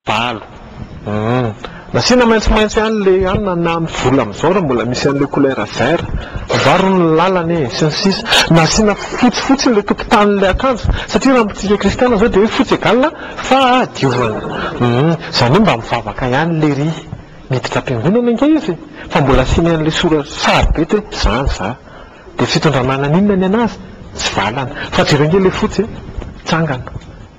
Valo. Hum. Nasiana maintsomaintso ihany le ihany na na am vola amizao ra mbola misy anle couleur vert. Voaro ny lalana e. Sy ny sisa. Nasiana fotsy fotsiny le tokontany le akanjo. Satria ra mitsika kristiana zao de hoe fotsy egal fahadiovana. Hum. Zany hoe mba mivavaka ihany lery. Miditra am-piangonana ange izy e. Fa mbola asiany anle sora sary be te zany za. De fitondra manan inona ny anazy? Tsy valana. Fa jereo ange le fotsy e. Tsangana.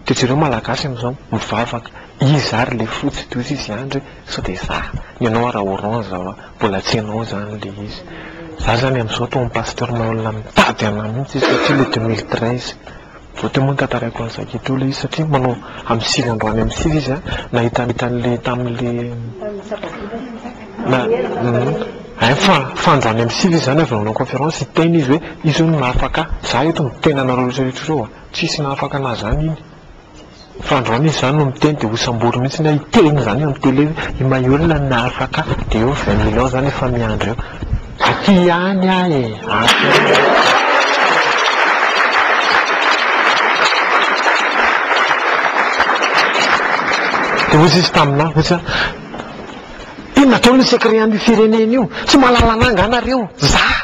De jereo malagasy amzao mivavaka iza ary le fotsy tohizo izy andry hoe sao de za ny anao ary orange aho a mbola tsy enao zany le izy za zany amzao to am pasteur maha olona mitady anah mihitsy izy satria le deux mille treize vao teo moa ny tantaraiko an'i zaky teo le izy satria manao am sivy androany am sivy izy a nahita an'le tan'le tam'le na hay fa fa androany am sivy izy zany avy nanao conférence hiteny izy hoe izy hono mahafaka ahy za eto miteny anareo rehetra rehetra ireo a Tsisy nahafaka anazy zany iny fa androany izy zany no miteny de ho sambory mihitsy ny ahy hiteny zany eo am tele hoe i Maheola no nahafaka ahy de eo vingt mille ans zany efa miandry eo aty ihany aho e aty ihany aho. De hoy izy taminah hoy izy inona daholo ny secret an'io firenena io tsy mahalala anah nga nareo zah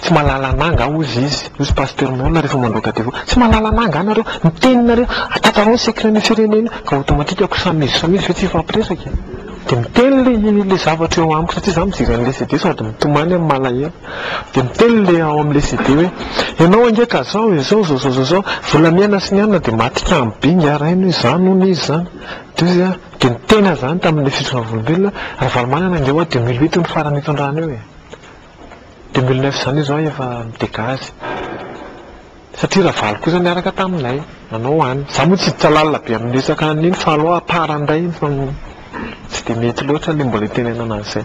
Tsy mahalala anah angaha hozy izy, hozy Pasteur Moana rehefa mandroaka devoly, tsy mahalala anah angaha nareo? Ny teninareo, tantaraho ny secret ny firenena io, ka automatique ko samy izy samy izy ve tsy hifampiresaka e? Dia miteny ilay ilay zavatra eo amiko satria izaho mijery an'ilay CD sady mitomany amin'ny malahelo. Dia miteny ilay ao amin'ilay CD hoe, ianao ange ka izao e, izao izao izao izao izao, volamena sy ny anona dia maty kamo be ingahy rainy hoe izany hono izy izany. Dia hoy izy hoe, Dia ny tena zany tamin'ilay fitsoavolombelona, Ravalomanana ange ho'a deux mille huit no farany nitondrana eo e! Deux mille neuf zany izao aho efa mi-dégage. Satria Ravalo kosa niaraka taminay nanao any. Za moa tsy hiditra lalina be amin'ny resaka an'iny fa alou à part indray iny fa tsy dia mety loatra ilay mbola itenenana an'izay.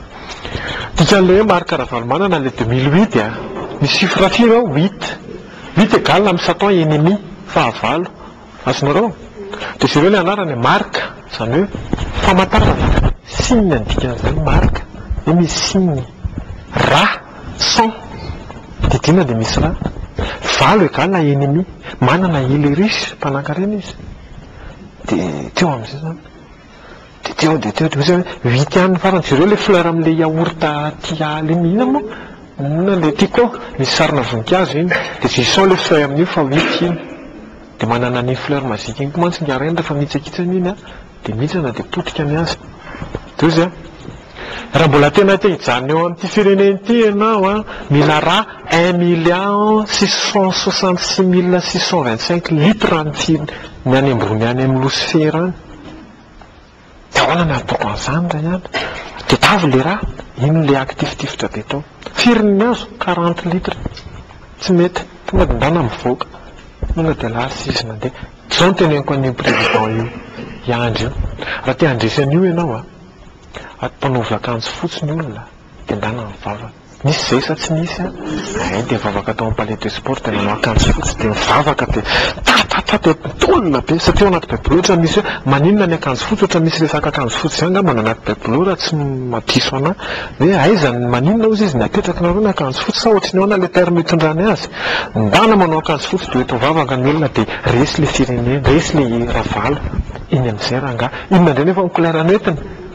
Dikan'ilay hoe Marc Ravalomanana ilay deux mille huit a! Ny chiffre firy ao? Huit. Huit égale amin'ny satan ennemi, fahavalo, Azonareo? Dia jereo ilay anarany, marika, izany hoe famantarana, signe ny dikan'izany, marika, dia misy signe. Ra, cent, didiana dia misy ra. Valo égale à ennemi. Manana ilyrus, mpanankarena izy. Dia teo amin'izay izany. Dia teo dia teo dia ozy hoe huit ihany ny farany, jereo ilay fleur amin'ilay yaourt aty ala iny, inona moa? inona ilay tiako ao? misy sarina voninkazo iny, dia jouissons ilay feuille amin'io fa huit iny, dia manana an'iny fleur magique iny koa mantsy ny hareng rehefa mihitsakitsana iny an, dia mihitsana dia potika ny azy, dia ozy an, raha mbola tena te hijanona eo amin'ity firenena ity ianao an, mila rà un million six cent soixante six mille six cent vingt cinq litres ny any ambony any amin'ny losifera any. Dia ahoana no hataoko an'izany ry an? Tadiavo ilay rà, inona ilay hakitifitifitra be tao? Firy ny azo? Quarante litres. Tsy mety. Tonga dia ndana mivoaka. Tonga dia lasa izy nandeha. Izao no teneniko an'io président io hiandry io, raha te handresy an'io ianao an, mpanaovy akanjo fotsy ny olona dia ndana ny vavany. Nisy zay sa tsy nisy an? Zahay dia nivavaka tao amin'ny palais de sport dia nanao akanjo fotsy dia nivavaka dia tatatata dia tolona be satria ao anaty baiboly ohatra misy hoe maninona ny akanjo fotsy ohatra misy resaka akanjo fotsy izany angamba ny anaty baiboly raha tsy madiso anah hoe aiza ny maninona ozy izy ny apetrakinareo ny akanjo fotsy sa ohatry ny ahoana ilay terme itondrany azy ndana manao akanjo fotsy dia eto mivavaka ny olona dia resy ilay firenena resy ilay ravalo iny amin'izay rangahy inona indray nefa ny couleur no entiny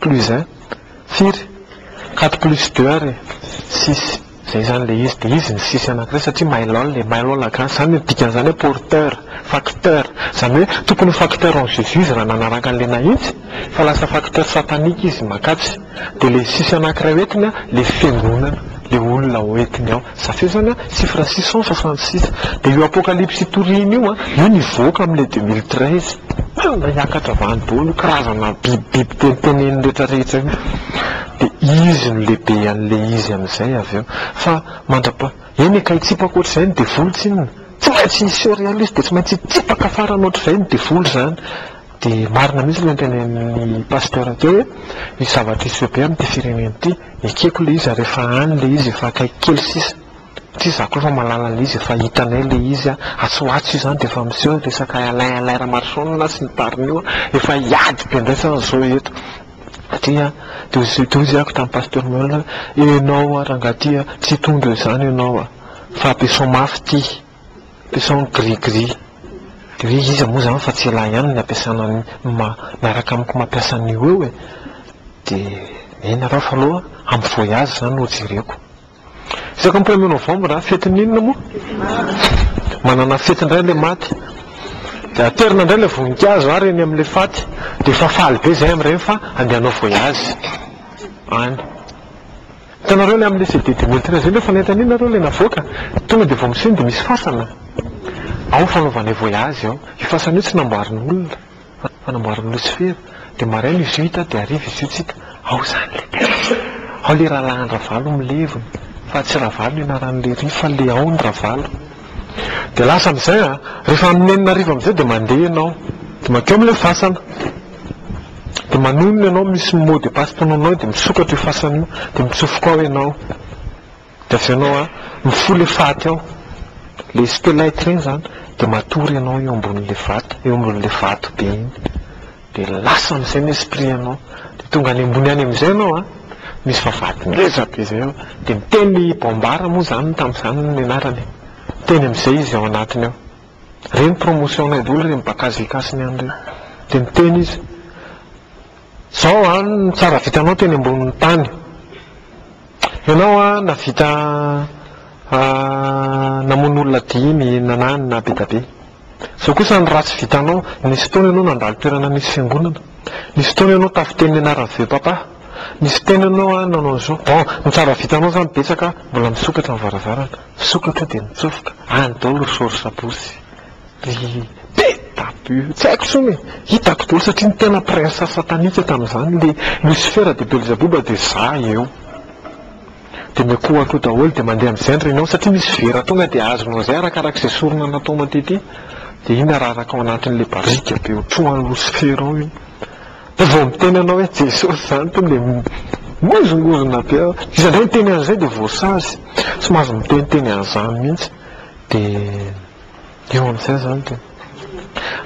Plus un? Firy? Quatre plus deux ary six, zay zany le izy, de izy ny six anakiray satria mailhol e, mailhol a gasy zany dikan'izany hoe porteur, facteur, zany hoe tokony ho facteur en jesus izy raha nanaraka an'le nahitsy fa lasa facteur satanique izy makatsy, de le six anakiray hoentiny a le fiangonana, le olona hoentiny ao. Safezana sy Fransison sa Francis. Dia io apocalypse itoriany io an, io nivoaka am le deux mille treize. Marina hiakatra vany daholo io karazana biby biby teniteneniny rehetra rehetra io. Dia izy no lehibe an le izy am zay avy eo. Fa mandrapa, eny e ka hitsipaka ohatry zay ny devoly tsinona. Tsy maintsy hiseho realiste dia tsy maintsy hitsipaka farany ohatry zay ny devoly zany. Dia marina mihitsy ilay notenenin'ny Pasteur teo hoe misy zavatra hisy bebe amin'ity firenena ity. Ekeko ilay izy ary efa any ilay izy efa akaiky kely sisa. Satria izaho koa efa mahalala an'ilay izy efa hitanay ilay izy an. Atsy ho atsy io izany dia efa miseho ny resaka Alain Alain Ramarosaonina sy ny tariny io an. Efa hiady be indray izany izao eto. Satria teo izy teo izy hoy tamin'ny Pasteur Manuel hoe ianao rangahy ity tsy hitondra izany ianao fa be soa mafy ity. Sao ny gris gris. Gris iza moa zany fa tsy elah ihany ny ampiasana ny ma miaraka amiko mampiasa an'io eo e! de miheno nareo fa aloha amin'ny voyage zany no jereko. Isaka premier novembre a, fetin'inona moa? Manana fety indray ilay maty. De aterina indray ilay voninkazo ary eny amin'ilay faty. De efa faly be izahay amin'ireny fa andeha hanao voyage any. Hitanareo ilay amin'ilay CD Demontina izay nefa nahita an'iny nareo ilay navoaka? Tonga dia vao miseho dia misy fasana ao fanaovanay voyage ao. Io fasana io tsy namboarin'olona fa namboarin'i Losifera. Dia maraina izy io hita dia hariva izy io tsy hita. Ao izany ilay texte. Ao ilay rahalahin-dRavalo milevina fa tsy Ravalo ny anaran'ilay riha fa ilay ao ny Ravalo. Dia lasa amin'izay an! Rehefa amin'ny enina hariva amin'izay dia mandeha ianao dia mankeo amin'ilay fasana. Dia manonona ianao misy mot de passe tononina ao dia misokatra io fasana io dia mitsofoka ao ianao dia avy eo ianao a mifoha ilay faty ao ilay stelite ireny izany dia matory ianao eo ambonin'ilay vato eo ambonin'ilay vato be iny dia lasa amin'izay ny esprit anao dia tonga any ambony any amin'izay ianao a misy vavahady ngeza be izay ao dia miteny i Bambara moa izany tamin'izany ny anarany teny amin'izay izy ao anatiny ao Reny promotion nay doly reny baka azy lekasiny any reny. De miteny izy, zao an ny tsara vitanao teny ambonin'ny tany. Ianao an navita namono olona dimy na na na be da be. Zao kosa ny ratsy vitanao, nisy fotoana ianao nandalo toerana misy fiangonana, nisy fotoana ianao tafiteny ny anaran'ny vieux papa, nisy fotoana ianao an nanao an'izao. Bon, ny tsara vitanao zany betsaka mbola misokatra ny varavarana. Sokatra dia nitsofoka, any daholo ry Sory Sabosy. Ry Peta By, tsy haiko intsony e! Hitako daholo satria ny tena prince satanika tamin'izany, ilay Lucifer dia Belzabouba dia za eo. Dia miankohoankoho daholo dia mandeha amin'izay ny renao satria misy vera tonga dia azonao izay arakarak'izay sorona nataonao tetỳ. Dia iny araraka ao anatin'ilay barika be ho trohan'i Lucifer ao iny. Vao miteny anao hoe Jesosy izany tonga dia mihozongozona be aho. Iza indray miteny an'izay dia voasazy. Tsy mahazo miteniteny an'izany mihitsy. Dia eo amin'izay izany dia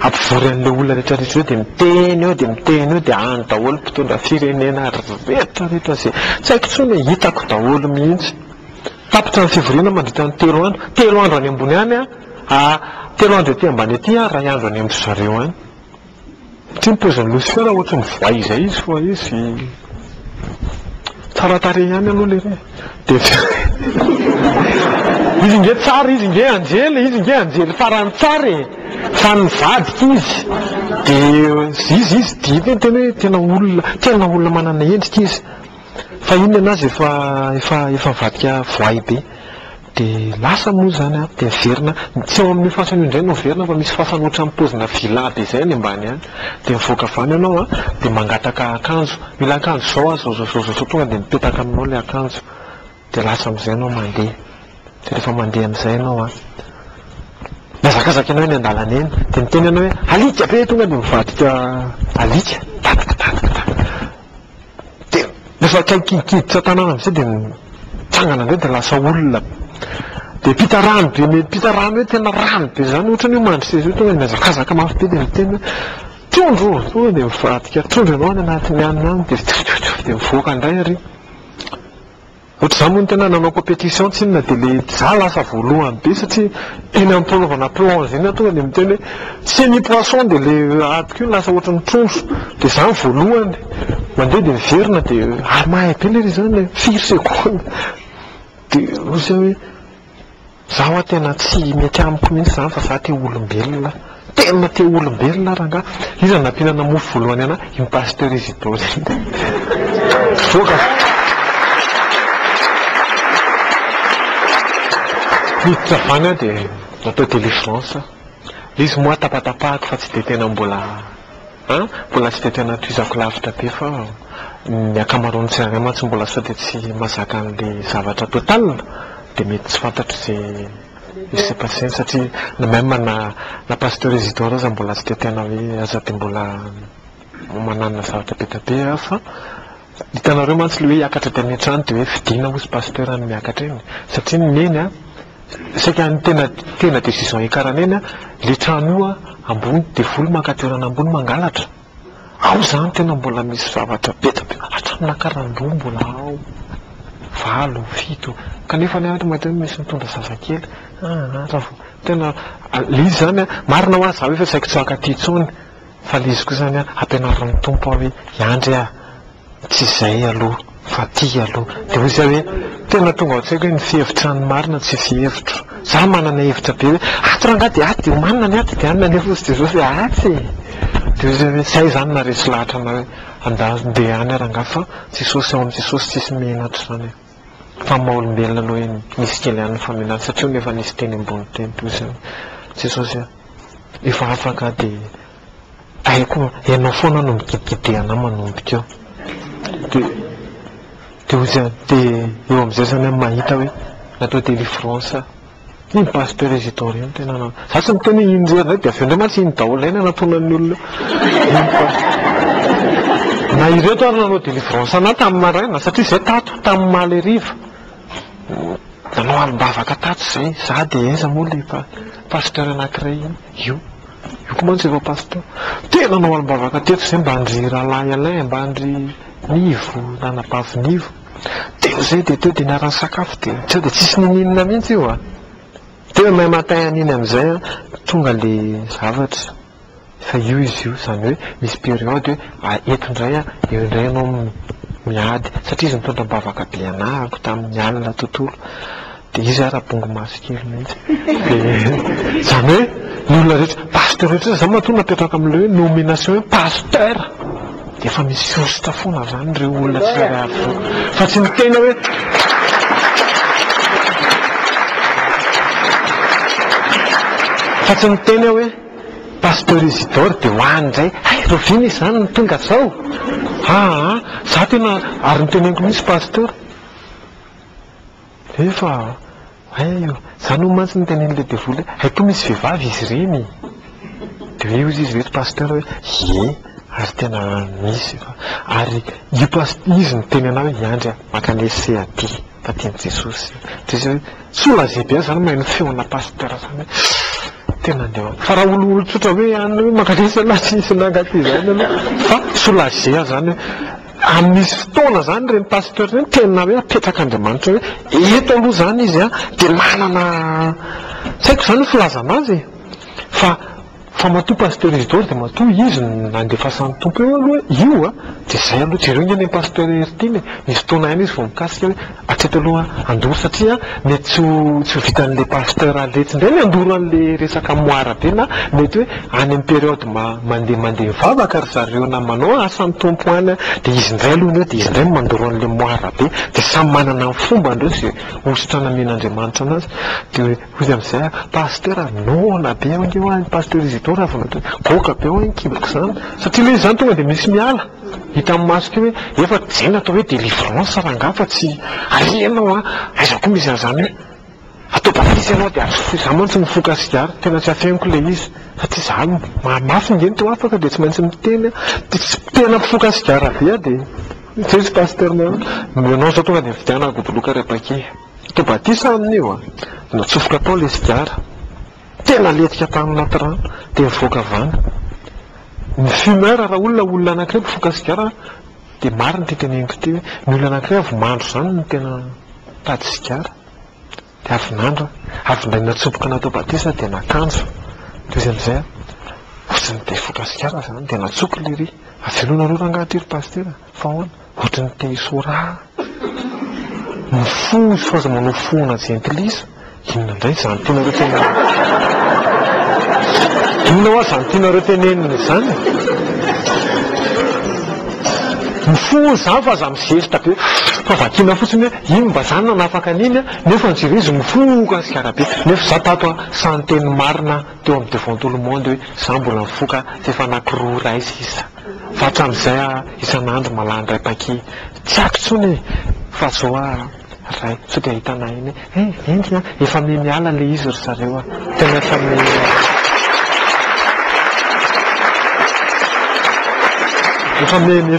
ampivory an'ilay olona rehetrarehetra eo dia miteny eo dia miteny eo dia any daholo mpitondra firenena rehetrarehetra izay tsy haiko intsony e, hitako daholo mihitsy. Tapitra ny fivoriana mandritra ny telo andro. Telo andro any ambony any aho, telo andro ety ambany ety aho, iray andro any amin-dry zareo any. Tsy ny pozin'i Lucifer ohatry ny voay izay izy fa izy tsara tarehy ihany aloha lery e! Izy nge tsara izy nge anjely e! Izy nge anjely farany tsara e! Fa nivadika izy dia izy izy dia ny tena hoe tena olona tena olona manana endrika izy fa inona ny azy efa efa efa nivadika voay be. Dia lasa moa izany an, dia miverina, ny tsy eo amin'io fasana io indray no miverina fa misy fasana ohatran'ny paozina villa be izay any ambany any. Dia mivoaka avy any ianao an, dia mangataka akanjo, mila akanjo izao aho, izao izao izao, tonga dia mipetaka aminao ilay akanjo. Dia lasa amin'izay ianao mandeha. Dia rehefa mandeha amin'izay ianao an, mihazakazaka ianao eny an-dalana eny, dia miteny ianao hoe alika be, tonga dia mivadika alika, tadika, tadika, tadika. Dia rehefa akaiky hiditra tanàna amizay dia mitsangana amizay dia lasa olona. Dia mpita rano be me mpita rano hoe tena rano be zany ohatrany hoe mandry seza hoe tonga dia mihazakazaka mafy be dia miteny hoe, trondro o! Tonga dia mivadika trondro ianao any anatin'ny hanina any dia tsof tsof tsof dia mivoaka indray ary. Ohatr'izany moa ny tena nanao competition tsinona dia le za lasa voalohany be satria eny ampanaovana plonge eny aho tonga dia miteny hoe tsia ny poisson dia le adiko iny lasa ohatran'ny trondro dia za ny voalohany mandeha dia miverina dia ary mahay be lery izany firy seconde dia ozy aho hoe Za wa tena tsy mety amiko mihitsy zany fa za te olombelona, tena te olombelona ary angaha iza nampinana mofo voalohany ana iny pasteur Isidore iny voka fa niditra avy any aho de natao delivrance aho, le izy moa tapatapahako fa tsy de tena mbola. An! Mbola tsy dia tena tohizako lavitra be fa ny ankamaroan'ny tsirairay mantsy mbola sao dia tsy mazaka an'ilay zavatra total dia mety tsy fantatro izay il s'est passé-ny satria na même na na Pasteur Isidore aza mbola tsy dia tena hoe aza dia mbola mananona zavatra be dia be aho fa hitanareo mantsy ilay hoe hiakatra dia any an-trano dia hoe fidina hozy Pasteur any miakatra eny satria ny neny an! Saika ny tena tena decision hiakarany eny an, le trano io an ambony devoly maka toerana ambony mangalatra, ao zany tena mbola misy zavatra be dia be, hatramin'ny nakaram-boho mbola ao, valo, fito, kanefa anie ary mahita hoe misy mitondra zazakely, aa raha vao tena le izy zany an, marina hoa za hoe fa tsy saiko tsy haka aty intsony, fa le izy koa zany an ampianarin'ny Tompo aho hoe hiandry aho, Tsy izay aloha fa ty aloha. Dia hoy zay hoe, tena tonga ao an-tsaiko hoe ny fihevitra ny marina tsy fihevitro. Za manana hevitra be hoe ato rangahy dia ato dia omanina ny ato dia anona nefa hozy dia zao dia atsy e! Dia hoy zay hoe, zay izany naharesy lahatra anay hoe andahy ndeha any rangahy fa Jesosy ao amin'i Jesosy tsisy menatra izany e! Fa ny maha olombelona aloha eny misy kely ihany ny famenatra satria hono efa nisy teny ambony teny toy izay hoe Jesosy a! efa afaka dia Aiko ianao foana no mikidikidy anah manombika eo. Dia dia hozy an, dia eo amin'izay zany an mahita hoe natao délivrance aho. Iny Pasteur Isidore iny tena na. Za tsy miteny hoe iny rery dia avy eo indray mantsy iny daholo ilay nanatronan'ny olona eo. Iny Pasteur. Na ireto ary nanao délivrance anah tamin'ny maraina satria zay tato tamin'ny omaly hariva nanao alim-bavaka tato zay za dia aiza moa ilay Pasteur anankiray iny. Io. Eko mantsy efa pasteur. Tena anao alim-bavaka teto zay mba an-dry Rahalahy Alain mba an-dry Nivo na anabavy Nivo. Teo zay dia teo dia niara-nisakafo dia sao dia tsisy nininona mihitsy io a! Demain matin an'iny amin'izay an, tonga le zavatra. Fa io izy io, zany hoe misy période hoe eto indray an, eo indray ianao miady satria izy nitondra am-bavaka be anahako tamin'ny alina tontolo. Dia izy ary abongo maso kely mihitsy. Dia izany hoe ny olona rehetra, pasteur rehetra izany matoa napetraka amin'ilay hoe nomination hoe pasteur dia efa misosotra foana avy any ireo olona tsirairay avy ireo. Fa tsy ny tena hoe. Fa tsy ny tena hoe pasteur Isidore dia ho any indray, hay Roviana izany no tonga izao? Aa, izaho tena ary noteneniko mihitsy pasteur. Efa hay io, za no mantsy niteny an'ilay devoly hoe hay koa misy vehivavy izy ireny! Dia hoe hoy izy hoe ry pasteur hoe ie ary tena misy fa ary io past izy niteny anah hoe hiandry aho maka ny ese aty fa tian'i Jesosy dia izy hoe tsy ho lazaiko be aho zany mahay ny feona pasteur zany hoe tena andeha ho fa raha olotsotra hoe any hoe maka ny ese anah tsy misy anah angaha ty zany aloha fa tsy ho lazaiko zany hoe Ary misy fotoana izany ireny pasteur ireny tena hoe apetrak'Andriamanitra hoe eto aloha izany izy an, dia manana tsy haiko izany ny filazana azy e! fa fa matoa pasteur Isidore dia matoa izy no nandefasan'ny Tompo eo aloha io an, dia izay aloha, jereo anie ny an'i pasteur Heritiana e! misy fotoana ihany izy vao mikasika hoe Hatreto aloha handoro satria mety tsy ho tsy ho vitan'le pasteur Aletsy ndray ny handoro an'le resaka moara be na mety hoe any am periode ma mande mande mivavaka ry zareo na manao asan'ny Tompo any an de izy ndray aloha ny eo de izy ndray no mandoro an'le moara be de samy manana ny fombany reo ze hosotra namen'Andriamanitra anazy de hoe hoy izy amzay ah pasteur ah noana be aho nge hoa ny pasteur Isidore avy natao hoe goaka be hoa ny kiboko zany satria le izy zany tonga de misy miala Hitan'ny maso ity hoe efa dia natao hoe délivrance rangah fa tsy aia ianao an! aiza koa misy an'izany hoe atao baptise ianao dia azo foy, za mantsy mifoka sigara tena tsy afeniko ilay izy fa tsy za no mahamafy nge ny teo afaka dia tsy maintsy miteny an! dia tsy tena mpifoka sigara be aho dia zay izy pasteur na hoe ianao izao tonga dia mividiana goboloka ry apaky atao batisa aminy io an! dia natsofoka tao ilay sigara. Tena letika tany anaty rano dia nivoaka avy any. Ny fumeur raha olona olona anankiray mpifoka sigara dia marina ity teneniko ity hoe ny olona anankiray avy mandro izany no tena nitady sigara dia avy nandra, avy indray natsoboka natao batisa dia nakanjo. Dia izy amin'izay tsy nite hifoka sigara izany dia natsoiko lery. Avelao nareo rangahy aty ry pasitera fa ahoana? Ohatry ny te hisora ah. Ny fo izy fa aza manao foana jentilisa, inona indray izany tianareo tenenina izany? Inona hoa izany tianareo tenenina izany? Ny fo hono izany fa aza mizesta be fa vakiana fotsiny hoe inona mba izany nanafaka an'iny ah, nefa ny jereo izy mifoka sigara be, nefa izaho tato ah sahy niteny marina teo amin'ny devant tout le monde hoe izaho mbola mifoka f'efa anankiroa iray sisa. Fa hatramin'izay ah isan'andro mahalany ray paki Tsy aiko intsony e! Fa zao ah ray sao dia ahitanà eny e! He! Enty an! Efa miha miala le izy ry zareo ah! Tena efa miha. Efa miha.